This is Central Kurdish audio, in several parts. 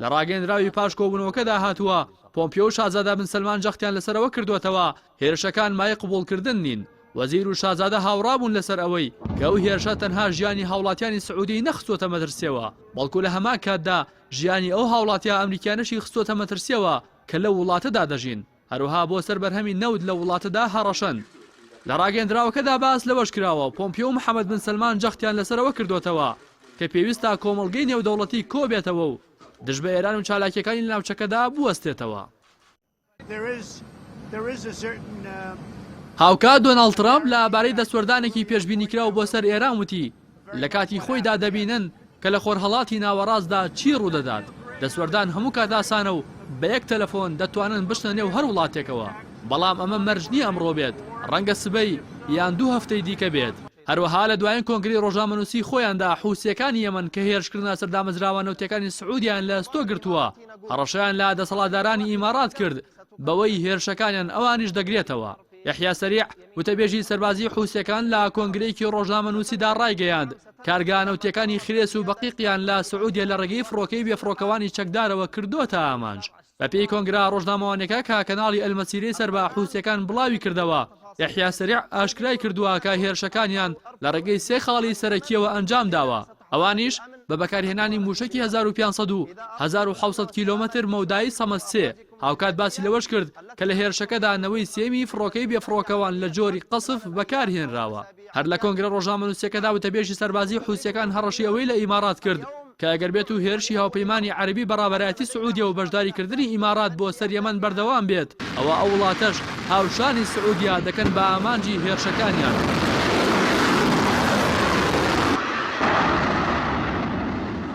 لە ڕاگەیەندراوی پاش کۆبوونەوەکەدا هاتووە، پۆمپیۆ و شازادە بن سەلمان جەختیان لەسەر ئەوە کردووەتەوە هێرشەکان مایەی قبوڵکردن نین، وەزیر و شازادە هاوڕابوون لەسەر ئەوەی کە ئەو هێرشە تەنها ژیانی هاوڵاتیانی سعودیەی نەخستووەتە مەترسیەوە، بەڵکو لە هەمان کاتدا ژیانی ئەو هاوڵاتیە ئەمریکیانەشی خستووەتە مەترسیەوە کە لەو وڵاتەدا دەژین. هەروەها بۆ سەر بەرهەمی نەوت لەو وڵاتەدا هەڕەشەن. لە ڕاگەیەندراوەکەدا باس لەوەش کراوە، پۆمپیۆ و محەمەد بن سەلمان جەختیان لەسەرەوە کردۆتەوە کە پێویستە کۆمەڵگەی نێودەوڵەتی کۆبێتەوە و دژ بە ئێران و چالاکییەکانی لە ناوچەکەدا بوەستێتەوە. هاوکات دۆناڵد ترەمپ لە بارەی دەستوەردانێکی پێشبینیکراو بۆ سەر ئێران وتی، لە کاتی خۆیدا دەبینن کە لە خۆرهەڵاتی ناوەڕاستدا چی ڕوودەدات، دەستوەردان هەموو کات ئاسانە و بە یەک تەلەفۆن دەتوانن بچنە نێو هەر وڵاتێکەوە، بەڵام ئەمە مەرج نییە ئەمڕۆ بێت، ڕەنگە سبەی یان دوو هەفتەی دیکە بێت. هەروەها لە دوایین کۆنگرەی ڕۆژنامەنووسیی خۆیاندا حووسییەکانی یەمەن کە هێرشکردنە سەر دامەزراوە نەوتییەکانی سعوودیان لە ئەستۆ گرتووە، هەڕەشەیان لە دەسەڵاتدارانی ئیمارات کرد بەوەی هێرشەکانیان ئەوانیش دەگرێتەوە. یەحیا سەریع، وتەبێژی سەربازیی حوسییەکان لە کۆنگرەیەکی ڕۆژنامەنووسیدا ڕایگەیاند، کارگە نەوتییەکانی خرێس و بەقیقیان لە سعودیە لە ڕێگەی فڕۆکەی بێفڕۆکەوانی چەکدارەوە کردووەتە ئامانج. بەپێی کۆنگرە ڕۆژنامەوانییەکە کە کەناڵی ئەلمەسیرەی سەر بە حوسییەکان بڵاوی کردەوە، یەحیا سەریع ئاشکرای کردووە کە هێرشەکانیان لە ڕێگەی سێ خاڵی سەرەکییەوە ئەنجام داوە، ئەوانیش، بە بەکارهێنانی مووشەکی هەزار و پێنج سەد و هەزار و حەوت سەد کیلۆمەتر مەودایی سەمەد سێ، هاوکات باسی لەوەش کرد کە لە هێرشەکەدا نەوەی سێیەمی فڕۆکەی بێفڕۆکەوان لە جۆری قەسف بەکارهێنراوە. هەر لە کۆنگرە ڕۆژنامەنووسییەکەدا وتەبێژی سەربازیی حوسییەکان هەڕەشەی ئەوەی لە ئیمارات کرد کە ئەگەر بێتو هێرشی هاوپەیمانی عەرەبی بە ڕابەرایەتی سعودیە و بەشداریکردنی ئیمارات بۆ سەر یەمەن بەردەوام بێت، ئەوا ئەو وڵاتەش هاوشانی سعودیە دەکەن بە ئامانجی هێرشەکانیان.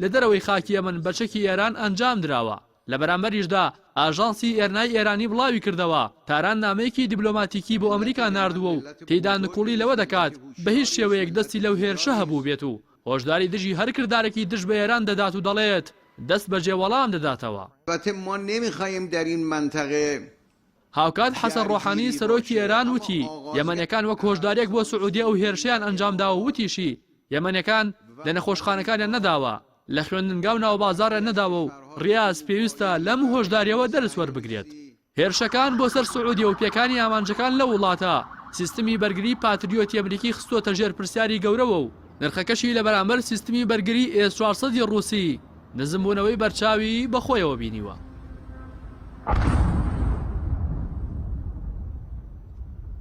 لە دەرەوەی خاکی یەمەن بە چەکی ئێران ئەنجامدراوە. لە بەرامبەریشدا ئاژانسی ئێرنای ئێرانی بڵاویکردەوە، تاران نامەیەکی دیبلۆماتیکی بۆ ئەمریکا ناردووە و تێیدا نکوڵی لەوە دەکات بە هیچ شێوەیەک دەستی لەو هێرشە هەبووبێت و هۆشداری دژی هەر کردارێکی دژ بە ئێران دەدات و دەڵێت دەستبەجێ وەڵام دەداتەوە. هاوکات حەسەن ڕۆحانی سەرۆکی ئێران وتی، یەمەنیەکان وەک هۆشداریەک بۆ سعودیە ئەو هێرشەیان ئەنجامداوە و وتیشی، یەمەنیەکان لە نەخۆشخانەکانیان نەداوە، لە خوێندنگا و ناوبازاڕیان نەداوە و ڕیاز پێویستە لەم هۆشداریەوە دەرس وەربگرێت. هێرشەکان بۆ سەر سعودیە و پێکانی ئامانجەکان لەو وڵاتە، سیستمی بەرگری پاتریۆتی ئەمریکی خستووەتە ژێر پرسیاری گەورەوە و نرخەکەشی لە بەرامبەر سیستمی بەرگری ئێس چوار سەد ی ڕووسی نزمبوونەوەی بەرچاوی بە خۆیەوە بینیوە.